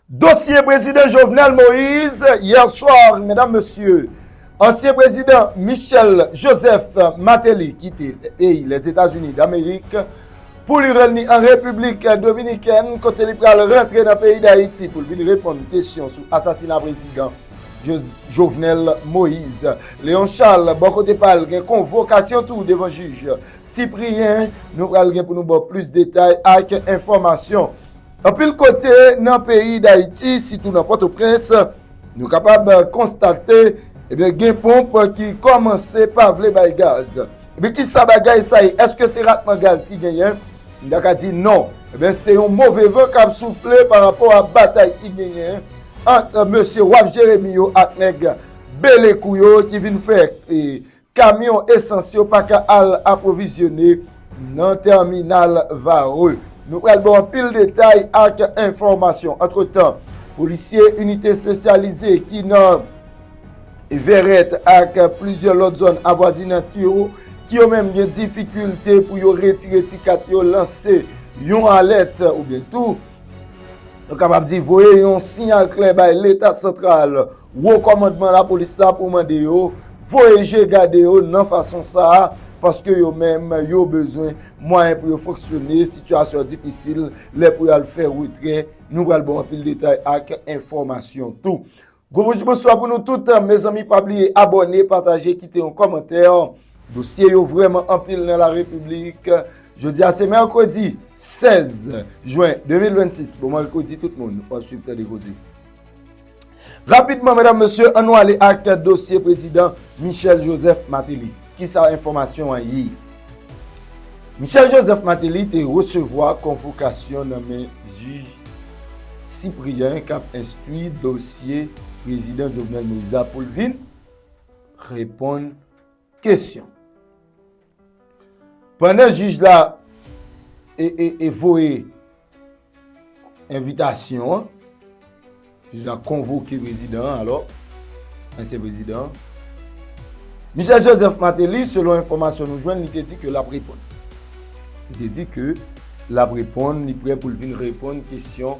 Dosye Prezidan Jovenel Moise Yè swa, medam, mesye, ansyen Prezidan Michel Joseph Martelly kite peyi Lèzetazini Damerik pou li ranni an Repiblik Dominikèn kote li pral rantre nan peyi Dayiti pou l vin reponn kesyon sou asasina Prezidan Jovenel Moise. Léon Charles, bò kote pa l, gen konvokasyon tou devan jij Cyprien. Nou pral gen pou nou ba w plis detay ak enfòmasyon. Anpil kote nan peyi Dayiti, sitou nan Pòtoprens, nou kapab konstate ebyen gen ponp ki kòmanse pa vle bay gaz. Ebyen kisa bagay sa ye? Eske se ratman gaz ki genyen? M ta ka di non. Ebyen se yon move van k ap soufle pa rapò a batay ki genyen ant mesye Waf Jeremi yo ak nèg Belekou yo ki vin fè Kamyon esans yo pa ka al apwovizyone nan tèminal Varreux. Nou pral ba w anpil detay ak enfòmasyon. Antretan, polisye inite espesyalize ki nan Verrette ak plizyè lòt zòn avwazinant yo, ki yo menm gen difikilte pou yo retire ti kat yo, lanse yon alèt oubyen tou nou kapab di voye yon siyal klè bay Leta santral Wo kòmandman lapolis la pou mande yo voye je gade yo nan fason sa a paske yo menm yo bezwen mwayen pou yo fonksyone, sitiyasyon difisil lè pou y al fè retrè. Nou pral ba w anpil detay ak enfòmasyon tou. Gwo bonjou bonswa pou nou tout, mezanmi pa bliye abòne, pataje, kite yon kòmantè. Dosye yo vrèman anpil nan larepiblik. Jodi a se mèkredi 16 jwen 2026, bon mèkredi tout moun, w ap swiv Tande Koze. Rapidman, mèdam, mèsye, an nou ale ak dosye prezidan Michel Joseph Martelly. Ki sa enfòmasyon an ye? Michel Joseph Martelly te resevwa konvokasyon nan men jij Cyprien k ap enstwi dosye prezidan Jovenel Moïse la pou l vin reponn Kesyon. Pandan jij la e voye envitasyon an, jij la konvoke prezidan an alò, ansyen prezidan an, Michel Joseph Martelly, selon enfomasyon nou jwenn, li te di ke l ap reponn. Li te di ke l ap reponn, li pre pou l vin reponn kesyon.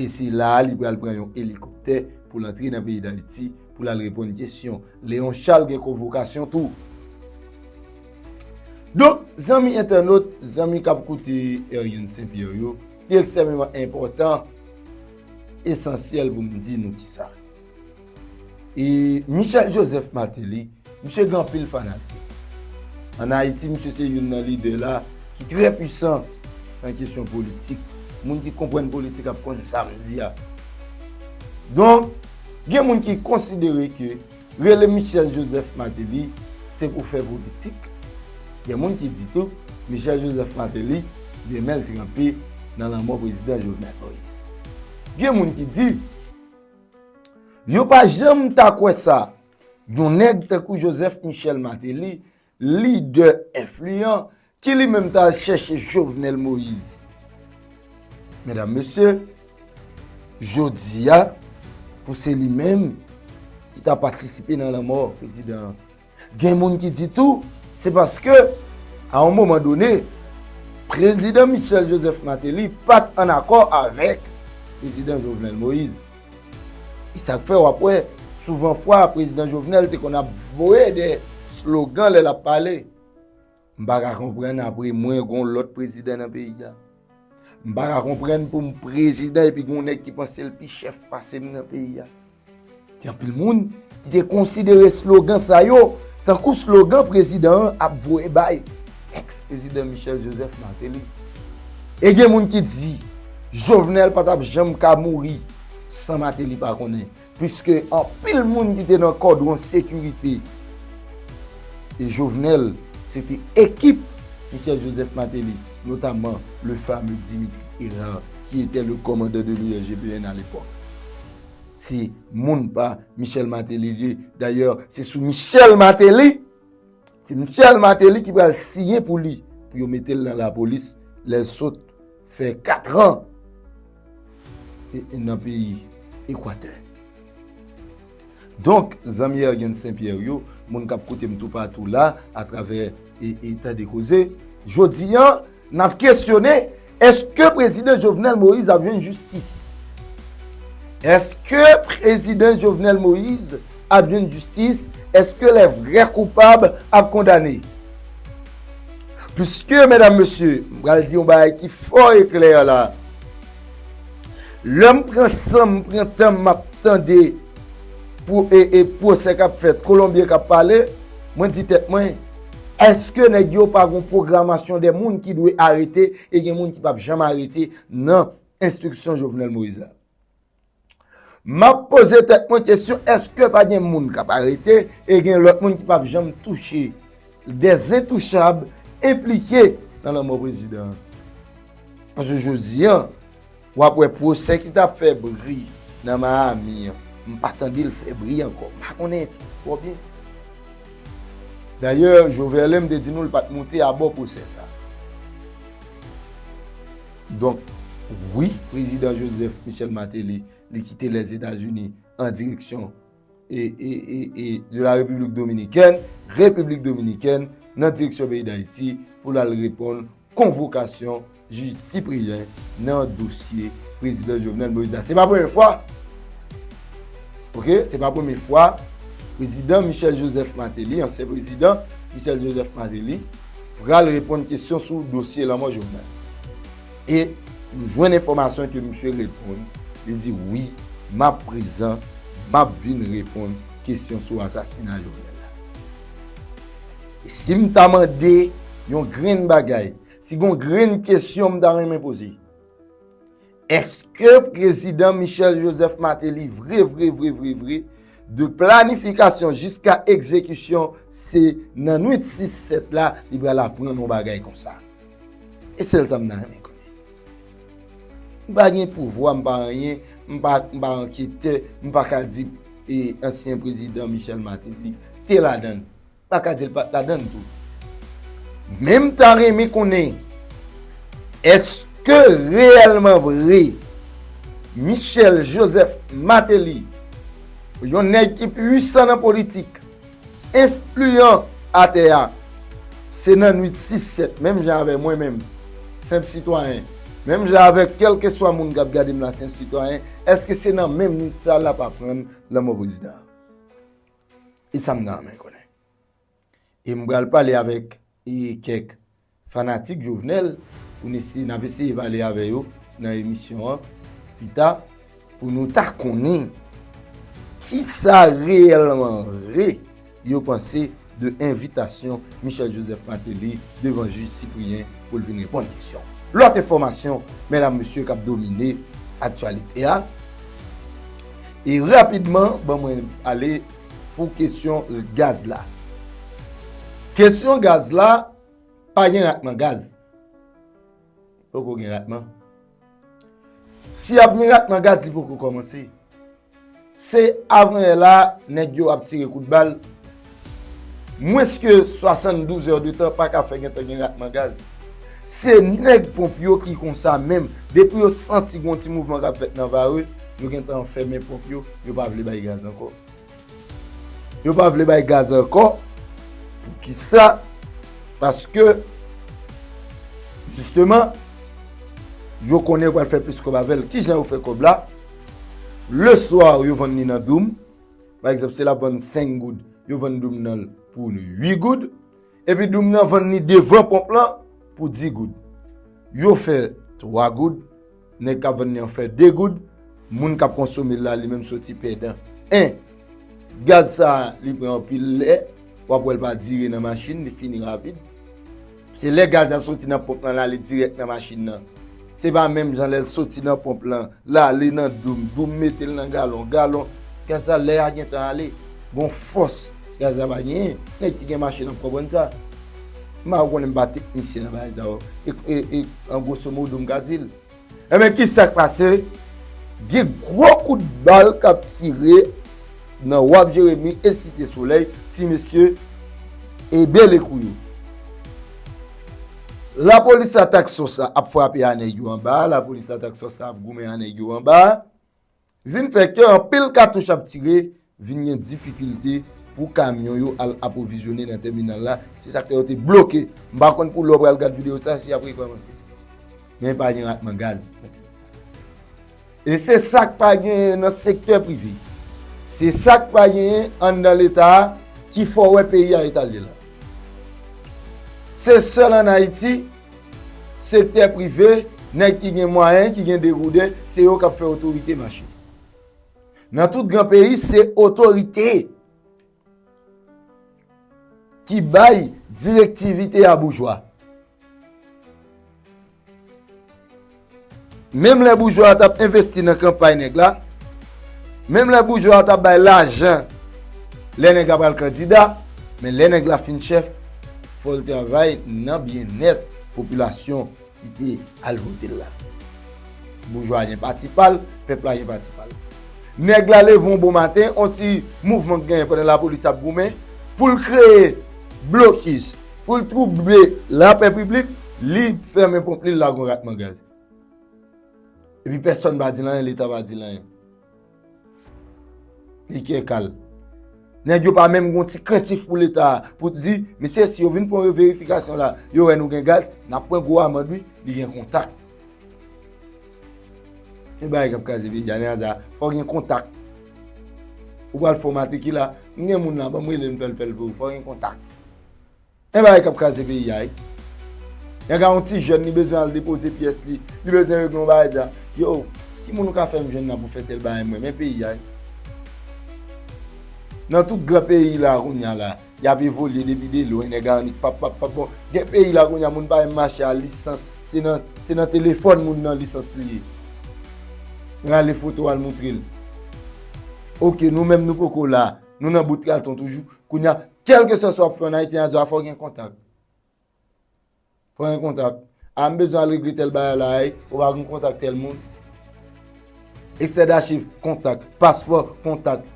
E se la a li pral pran yon elikoptè pou l antre nan peyi Dayiti pou l al reponn kesyon. Leon Charles gen konvokasyon tou. Donk, zanmi entènot, zanmi k ap koute Érienne St. Pierre yo, li ekstrèmeman enpòtan, esansyèl pou m di nou kisa. E Michel Joseph Martelly, misye gen anpil fanatik. An Ayiti, misye se youn nan lidè la ki trè pwisan nan kesyon politik. Moun ki konprann politik ap konn sa m di a. Donk, gen moun ki konsidere ke rele Michel Joseph Martelly se pou fè politik. Gen moun ki di tou, Michel Joseph Martelly gen men l tranpe nan lanmò Prezidan Jovenel Moïse. Gen moun ki di. Yo pa janm ta kwè sa, yon nèg tankou Joseph Michel Martelly, lidè enfliyan, ki li menm ta al chèche Jovenel Moïse. Medam, mesye, jodi a, pou se li menm ki ta patisipe nan lanmò prezidan Gen moun ki di tou, se paske, a yon moman done, Prezidan Michel Joseph Martelly pa t ann akò avèk Prezidan Jovenel Moïse. E sa k fè w ap wè, souvan fwa, Prezidan Jovenel te konn ap voye de slogan lè l ap pale. M pa ka konprann apre mwen gon lòt prezidan nan peyi a. M pa ka konprann pou m prezidan epi gon nèg ki panse l pi chèf pase m nan peyi a. Gen anpil moun ki te konsidere slogan sa yo tankou slogan prezidan an ap voye bay ex prezidan Michel Joseph Martelly. E gen moun ki di Jovenel pa t ap janm ka mouri san Martelly pa konnen. Piske anpil moun ki te nan kòdwon sekirite Jovenel, se te ekip Michel Joseph Martelly, notaman le fame Dimitri Herard ki etè le kòmandan de l'URGPN a lepòk. Se moun pa Michel Martelly li ye. Dayè, se sou Michel Martelly. Se Michel Martelly ki pral siyen pou li pou yo mete l nan lapolis lè l sot fè katran nan peyi Ekwatè. Donk, zanmi Ergen Sen Pyè yo, moun k ap koute m toupatou la atravè e eta de koze, jodi an, N ap kesyone, èske Prezidan Jovenel Moïse ap jwenn jistis? Èske Prezidan Jovenel Moïse ap jwenn jistis? Èske lè vrè koupab ap kondane? Piske, medam, mesye, m pral di yon bagay ki fò e klè la, lè m pran san m, pran tan m, m ap tande pou e pwosè k ap fèt, Kolonbyen k ap pale, mwen di tèt mwen, Eske nèg yo pa gon pwogramasyon de moun ki dwe arete e gen moun ki pap janm arete nan enstriksyon Jovenel Moïse la? Map poze tèt mwen kesyon eske pa gen moun kap arete e gen lòt moun ki pap janm touche de zentouchab enplike nan lanmò prezidan an? Paske jodi an. Wap wè pwosè ki tap fè bri nan Miami an m pa tande l fè bri ankò m pa konnen twò byen. Dayè Joverlein te di nou l pat moute abò pwosè sa. Donk wi Prezidan Joseph Michel Martelly li kite Lèzetazini an direksyon. de la République Dominicaine, Repiblik Dominikèn, nan direksyon peyi Dayiti pou l al reponn konvokasyon jij Cyprien nan dosye Prezidan Jovenel Moïse la. Se pa premye fwa, ok, se pa premye fwa Prezidan Michel Joseph Martelly, ansyen Prezidan Michel Joseph Martelly, pral reponn kesyon sou dosye lanmò Jovenel. E nou jwenn enfòmasyon ke misye reponn, li di wi, m ap prezan, m ap vin reponn kesyon sou asasina Jovenel la. E si m ta mande yon grenn bagay, si gon grenn kesyon m ta renmen poze, eske prezidan Michel Joseph Martelly vre vre vre vre vre De planifikasyon jiska egzekisyon, se nan nwit 6, 7 la, li pral aprann yon bagay konsa. E sèl sa m ta renmen konnen. M pa gen pouvwa, m pa anyen, m pa anketè, m pa ka di ansyen prezidan Michel Martelly te ladan l. pa ka di l pat ladann tou. Men m ta renmen konnen, eske reyèlman vre, Michel Joseph Martelly, yon nèg ki pwisan nan politik, enfliyan atè a, se nan nwit 6 sèt, menm jan avè mwen menm, senp sitwayen, menm jan avè kèlkeswa moun k ap gade m la senp sitwayen, eske se nan menm nwit sa l ap aprann lanmò prezidan an? E sa m nan men konnen. E m pral pale avèk e kèk fanatik Jovenel pou n ese, n ap eseye pale avè yo nan emisyon an pi ta pou nou ta konnen ki sa reyèlman vre yo panse de envitasyon Michel Joseph Martelly devan jij Cyprien pou l vin reponn keksyon. Lòt enfòmasyon, medam mesye k ap domine aktyalite a, E rapidman ban mwen ale pou kesyon gaz la. Kesyon gaz la, pa gen ratman gaz. Poko gen ratman. Si ap gen ratman gaz li poko kòmanse. Se avan yè la nèg yo ap tire kout bal. Mwens ke 72 heures de tan paka fè gentan gen ratman gaz. Se nèg ponp yo ki konsa menm, depi yo santi gon ti mouvman kap fèt nan vare, yo gentan fèmen ponp yo, yo pa vle bay gaz ankò. Yo pa vle bay gaz ankò, poukisa? Paske, jisteman, yo konnen yo pral fè plis kòb avèl. Kijan yo fè kòb la? Le soir yo vann li nan doum, Pa egzanp, si l ap vann 5 goud, yo vann doum nan l pou 8 goud. Epi doum nan vann li devan ponp lan pou 10 goud. Yo fè 3 goud, nèg k ap vann li an fè 2 goud, moun k ap konsome l la li menm soti pèdan. 1. Gaz sa a li pran anpil lè, w ap wè l pa dire nan machin, li fini rapid. Se lè gaz la soti nan ponp lan lale dirèk nan machin nan. Se pa menm jan lèl soti nan ponp lan lale nan doum, doum metel nan galon, galon, gaz la lè a gentan ale. Gon fòs gaz la pa genyen. Nèg ki gen machin ap konprann sa. M pa konnen m pa teknisyen nan bagay sa yo. E an gwosomodo m ka dil. Enben ki sa k pase? Gen gwo kout bal k ap tire nan Waf Jeremi e Site Solèy, ti mesye ede lekou yo. Lapolis atak sòs la ap frape a nèg yo anba, lapolis atak sòs la ap goumen a nèg yo anba. Vin fè ke anpil katouch ap tire, vin gen difikilte pou kamyon yo al apwovizyone nan tèminal la, se sak fè yo te bloke. M pa konn pou lè w pral gad videyo sa si y ap rekòmanse. Men pa gen ratman gaz nan peyi a. E se sak pa genyen nan sektè prive. Se sak pa genyen anndan leta a ki fè w wè peyi a eta l ye la. Se sèl an Ayiti. Sektè prive, nèg ki gen mwayen, ki gen degouden, se yo k ap fè otorite mache. Nan tout gran peyi, se otorite ki bay direktivite a boujwa. Menm lè boujwa a t ap envesti nan kanpay nèg la, menm lè boujwa a t ap bay lajan lè nèg la pral kandida, men lè nèg la fin chèf, fò l travay nan byennèt popilasyon ki te al vote l la. Boujwa a gen pati pa l, pèp la gen pati pa l. Nèg la leve yon bon maten, yon ti mouvman k genyen pandan lapolis ap goumen pou l kreye blokis. Pou l twouble lapè piblik, li fèmen ponp li, l lage yon ratman gaz. Epi pèsòn pa di l anyen, Leta pa di l anyen. Li kè kal. Nèg yo pa menm gen yon ti krentif pou Leta a, pou di, mesye si yo vin fè yon verifikasyon la, yo wè nou gen gaz, n ap pran gwo amand wi, li gen kontak. Gen bagay k ap kraze peyi a, Neaza, fò w gen kontak. Ou pral fòmate ki la, m gen moun la, ban m rele l m fè l fè l pou ou, fò w gen kontak. Yon bagay kap kraze peyi a wi. Yon gen yon ti jèn li bezwen al depoze pyès li, li bezwen regle yon bagay li di a, yo, ki moun ou ka fè m jwenn la pou fè tèl bagay mwen men peyi a wi. Nan tout gran peyi la kounya la, y ap evolye depi de lwen, nèg a annik pap pap pap bon. Gen peyi la kounya moun pa menm mache a lisans, se nan se nan telefòn moun nan lisans li ye. Rale foto al moutre l. Ok nou menm nou poko la, nou nan bout katon toujou. Kounye a, kèlke swa sa w ap fè an Ayiti, an azwa fò w gen kontak. Fò w gen kontak. A, m bezwen al regle tèl bagay la, e, ou pa gen kontak tèl moun. Eksè dachiv, kontak. Paspò, kontak.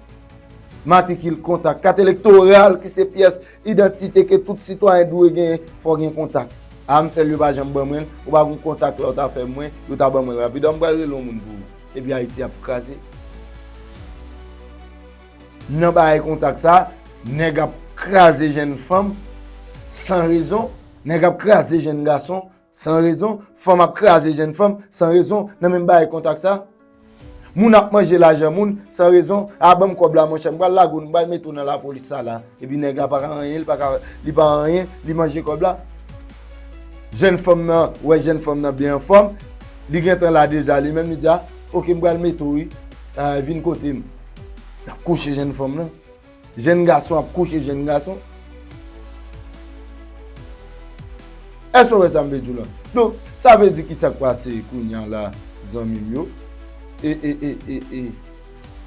Matrikil, kontak. Kat elektoral ki se pyès idantite ke tout sitwayen dwe genyen, fò w gen kontak. A, m fè l, yo pa janm ban mwen l. Ou pa gen kontak la, ou ta fè mwen, yo ta ban mwen l rapid. A, m pral rele yon moun pou ou. Epi Ayiti ap kraze. Nan baye kontak sa, nèg ap kraze jenn fanm san rezon, nèg ap kraze jenn gason san rezon, fanm ap kraze jenn fanm san rezon nan menm baye kontak sa. Moun ap manje lajan moun san rezon, a banm kòb la monchè, m pral lage w, m pral mete w nan lapolis sa la. Epi nèg la pa ka anyen, li pa anyen, li manje kòb la. Jenn fanm nan, wè jenn fanm nan byen anfòm, li gentan la deja li menm, li di a, ok m pral mete w wi, vin kote m. L ap kouche jenn fanm lan. Jenn gason ap kouche jenn gason. Èske ou wè sa m vle di w la? Donk, sa vle di ki sa k pase kounya la zanmi m yo? E, e, e, e, e.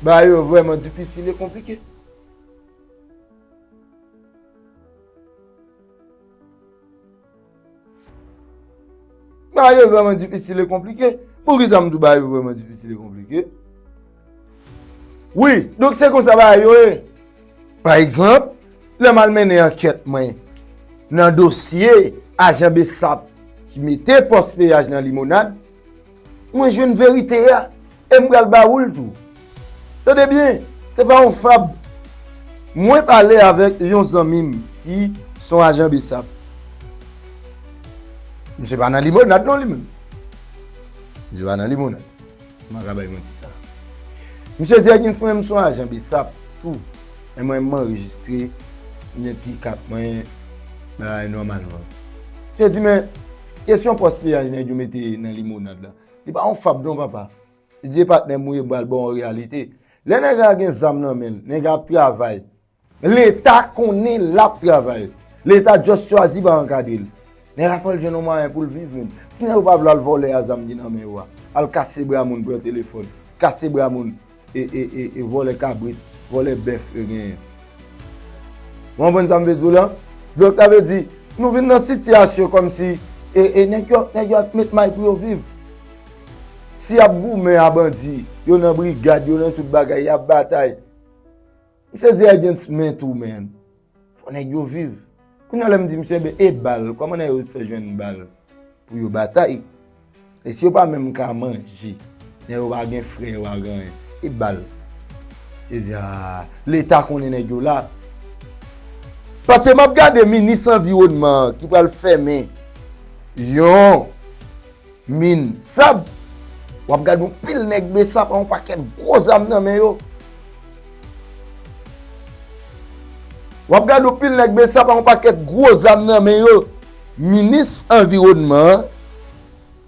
Bagay yo vrèman difisil e konplike. Ba yo vreman difisil e konplike. Pou ki sa m di ba yo vreman difisil e konplike? Wi, donk se kon sa ba yo e. Pa egzanp, lè m al mennen ankèt mwen nan dosye ajan besap ki mete pòs peyaj nan limonad, Mwen jwenn verite a e m pral ba ou l tou. Tande byen, se pa yon fab. Mwen pale avèk yon zanmi m ki se yon ajan bsap. Misye pa nan limonad non li menm. Misye pa nan limonad. M pa ka bay manti sa a. Misye di Ekins mwen menm se yon ajan bsap tou. Men mwen m anrejistre, m gen ti kat mwen, bagay nòmalman. Misye di men, Kesyon pòs piyaj nèg yo mete nan limonad la, li pa yon fab non papa. Didier patnè m ou ye bal baw reyalite. Lè nèg la gen zam nan men l, nèg la ap travay. Leta konnen lap travay. Leta just chwazi pa ankadre l. Nèg la fòl jwenn yon mwayen pou l viv menm. Si nèg yo pa vle al vòlè a zam ki nan men yo a, al kase bra moun pran telefòn, kase bra moun. E vòlè kabrit, vòlè bèf yo genyen. Ou konprann sa m vle di w la? Donk sa vle di, nou vin nan sitiyasyon kòm si e nèg yo ap met may pou yo viv. Si y ap goumen a bandi, yo nan brigad, yo nan tout bagay, y ap batay. Misye di against men tou man. Fò nèg yo viv. Kounya lèm di misye ben e bal kòman nèg yo fè jwenn bal pou yo batay. E si yo pa menm ka manje. Nèg yo pa gen frè yo pa gen anyen. E bal. Misye di aah leta konnen nèg yo la. Pase map gade minis anviwònman ki pral fèmen yon. Min, sab! W ap gade yon pil nèg besap ak yon pakèt gwo zam nan men yo. W ap gade yon pil nèg besap ak yon pakèt gwo zam nan men yo. Minis anviwònman an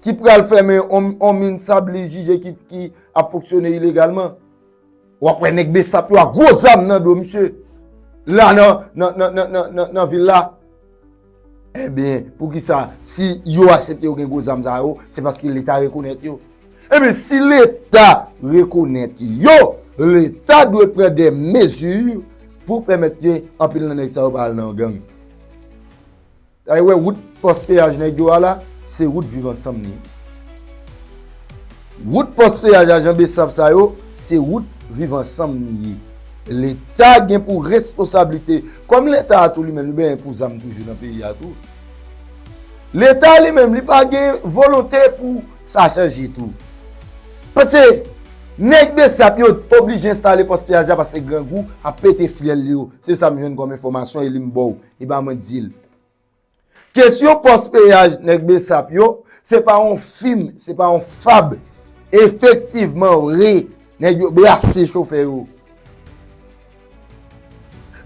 ki pral fèmen yon min sab li jije ki ap fonksyone ilegalman. Wap wè nèg besap yo a gwo zam nan do misye. La nan vil la. Ebyen eh pou ki sa si yo asepte yo gen gwo zam sa yo se paske leta rekonèt yo. Ebyen eh si leta rekonèt yo, leta dwe pran de mezi pou pèmèt ke anpil nan nèg sa yo pa al nan gang. Ay wè wout pòs peyaj nèg yo a la, se wout viv ansanm li ye. Wout pòs peyaj ajan bsap sa yo, se wout viv ansanm li ye. Leta gen pou resposablite, kòm leta a tou li menm li benyen pou zam toujou nan peyi a tou. Leta li menm li pa gen volonte pou sa chanje tou. Pase nèg bsap yo oblije enstale pòs peyaj la pase grangou ap pete fyèl yo. Se sa m jwenn kòm enfòmasyon e li m ba w. E ba mwen dil. Kesyon pos peyaj neg besap yo, se pa yon fim, se pa yon fab. Efektivman vre, neg yo brase chofè yo.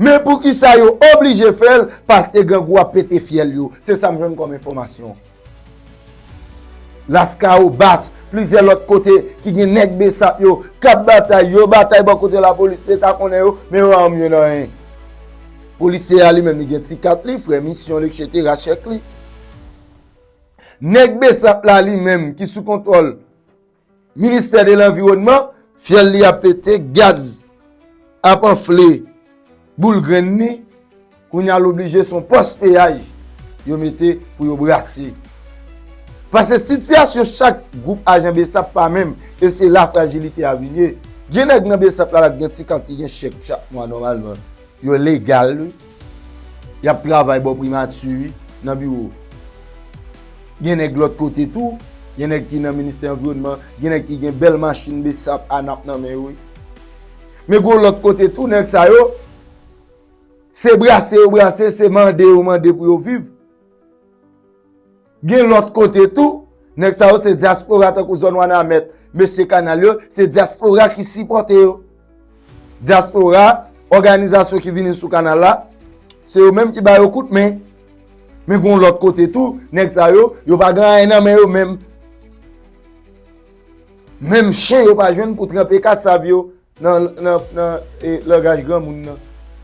Men pou kisa yo oblije fel, paske grangou a pete fyel yo. Se sa m jwenn kom enfomasyon. Laskawobas, plizyè lòt kote ki gen nèg besap yo k ap batay, yo batay bò kote lapolis, leta konnen yo, men yo pa janm jwenn anyen. Polisye a li menm li gen ti kat li, frè misyon li eksetera, chèk li. Nèg besap la li menm ki sou kontwòl. Ministè de lanviwònman, fyèl li ap pete, gaz ap anfle boul grenn ni, kounye a l oblije s on pòs peyaj yo mete pou yo brase. Pase sitiyasyon chak gwoup ajan bsap pa menm e se la frajilite a vin ye. Gen nèg nan bsap la la k gen ti kant ki gen chèk chak mwa nòmalman. Yo legal wi. Yap travay bò primati wi, nan biwo. Gen nèg lòt kote tou. Gen nèg ki nan ministè anviwònman. Gen nèg ki gen bèl machin bsap, anap nan men yo wi. Men gon lòt kote tou nèg sa yo, se brase yo brase, se mande yo mande pou yo viv. Gen lòt kote tou, nèg sa yo se dyaspora tankou zòn Wanament, mesye kanal yo, se dyaspora ki sipòte yo. Dyaspora, òganizasyon ki vini sou kanal la, se yo menm ki ba yo kout men. Men gen yon lòt kote tou, nèg sa yo, yo pa gen anyen nan men yo menm. Menm chen yo pa jwenn pou tranpe kasav yo nan langaj granmoun nan.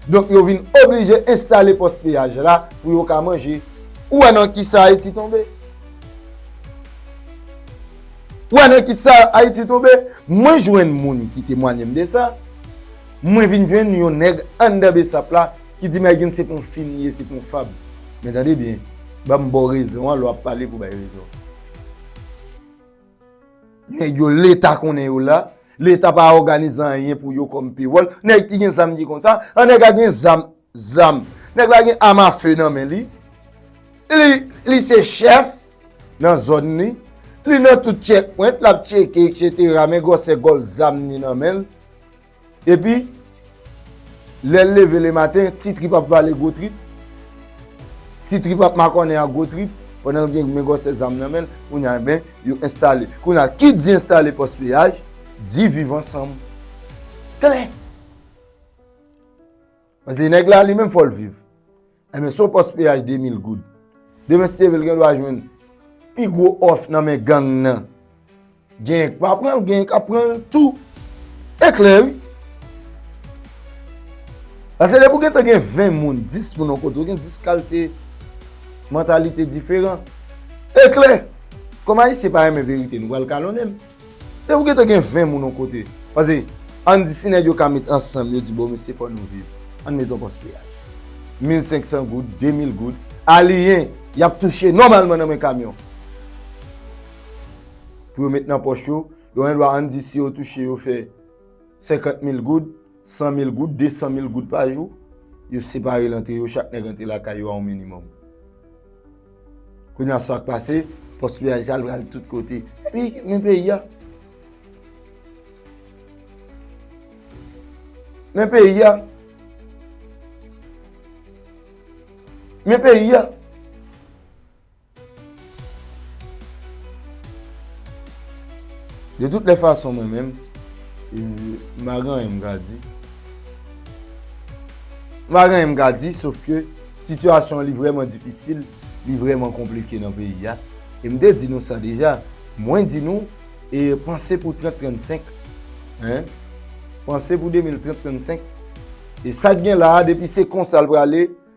Donk yo vin oblije enstale pòs peyaj la pou yo ka manje. Ou wè nan ki sa Ayiti tonbe? Ou wè nan ki sa Ayiti tonbe? Mwen jwenn moun ki temwanye m de sa. Mwen vin jwenn yon nèg anndan besap la ki di m Aygen se pou yon fim li ye, se pou yon fab. Men tande byen, ban m ba w rezon an lè w ap pale pou w bay rezon. Nèg yo leta konnen yo la, leta pa òganize anyen pou yo kòm pewòl, nèg ki gen zam ki konn sa, an nèg la gen zam, zam, nèg la gen am afe nan men li, li se chèf nan zòn li, li nan tout tchèk pwent, l ap tcheke, eksetera, men gwòsè gòl zam ni nan men l. Epi, lè l leve le maten, ti trip ap pale gwo trip, ti trip ap makònen ak gwo trip, pandan l gen men gwòsè zam nan men l, kounye a enben, yo enstale. Kounye a, ki di enstale pòs peyaj, di viv ansanm. Klè! Pase nèg la li menm fò l viv. Enben son pòs peyaj 2000 goud. Demen Stevel gen dwa jwenn pi gwo òf nan men gang nan. Genyen k pa pran l, genyen k ap pran l tou. E klè wi. Paske depi w gentan gen 20 moun, 10 moun yon kote, w gen 10 kalte mantalite diferan. E klè. Kòm Ayisyen pa renmen verite nou pral kalonnen m. Depi ou gentan gen 20 moun on kote, pase ann di si nèg yo ka met ansanm yo di bon mesye fò nou viv, ann met on pòs peyaj. Mil senksan goud, de mil goud, aliyen y ap touche nòmalman nan men kamyon pou yo met nan pòch yo, yo gendwa ann di si yo touche yo fè senkant mil goud, 100 mil goud, 200 mil goud pa jou, yo separe l antre yo, chak nèg antre lakay yo a yon minimòm. Kounye a sa k pase, pòs piyaj sa l pral tout kote. Epi, men peyi a. Men peyi a. Men peyi a. De tout lè fason mwen menm, ma gen anyen m ka di. Ma gen anyen m ka di, sof ke sitiyasyon li vreman difisil, li vreman konplike nan peyi ya. E m te di nou sa deja, mwen di nou, e panse pou 30-35, panse pou 2030-35, e sa k gen la, depi se konsa l prale,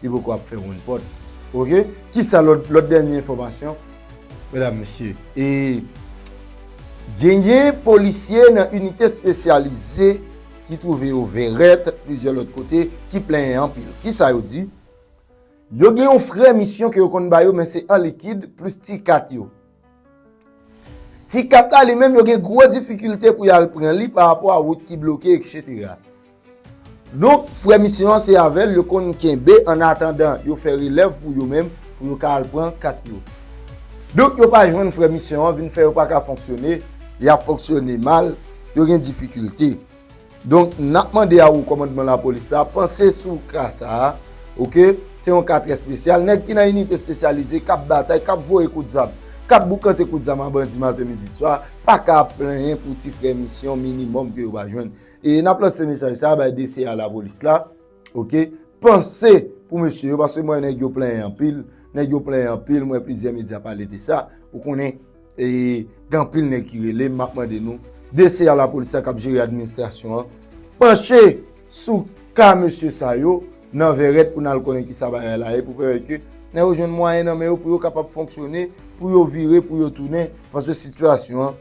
Li poko ap fè wonn pòt ok. Kisa lòt lòt dènye enfòmasyon medam mesye e. Genyen polisye nan inite spesyalize ki twouve yo vèrèt plizyè lòt kote ki plenyen anpil. Kisa yo di? Yo gen yon frè misyon ke yo konn ba yo men se an likid plis ti kat yo. Ti kat la li menm yo gen gwo difikilte pou yal pran li pa rapò a wout ki bloke etc. Donk frè misyon an se avèl yo konn kenbe an atandan yo fè relèv pou yo menm pou yo ka al pran kat yo. Donk yo pa jwenn frè misyon an vin fè yo pa ka fonksyone, yap fonksyone mal, yo gen difikilte. Donk nap mande a ou kòmandman lapolis la panse sou ka sa a ok se yon ka trè spesyal nèg ki nan inite spesyalize kap batay kap voye kout zam kap boukante kout zam a bandi maten midi swa paka ap plenyen pou ti frè misyon minimòm ke yo pa jwenn e nap lanse mesaj sa a bay DC a lapolis la. Ok, panse pou mesye yo, paske mwen nèg yo plenyen anpil, nèg yo plenyen anpil, mwen plizyè medya pale de sa, ou konnen, e, gen anpil nèg ki rele, m ap mande nou, DC a la polis la k ap jere administrasyon an, panche sou ka mesye sa yo, nan vèrèt pou n al konnen ki sa bagay la ye, pou pèmèt ke nèg yo jwenn mwayen nan men yo pou yo kapab fonksyone, pou yo vire, pou yo tounen, paske sitiyasyon an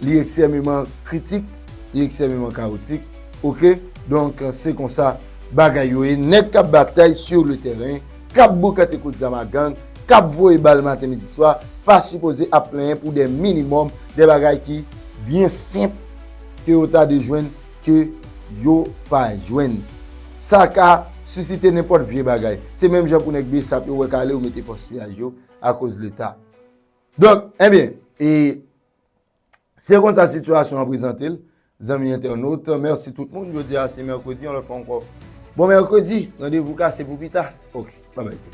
Li eksèmeman kritik, li eksèmeman kawotik, ok, donk se konsa bagay yo ye, nèg kap batay sur le terrain, kap boukante kout zam a gang, kap voye bal maten midi swa, pa sipoze ap plenyen pou de minimòm, de bagay ki byen senp ke yo ta de jwenn ke yo pa jwenn. Sa ka sisite nenpòt vye bagay. Se menm jan pou nèg bsap yo wè kale yo mete pòs piyaj yo akoz leta. Donk, enbyen, e Se konsa sitiyasyon an prezante l, zanmi entènot. Mèsi tout moun. Jodi a se mèkredi, yon lòt fwa ankò. Bon mèkredi! Randevou kase pou pita. Ok, babay tout.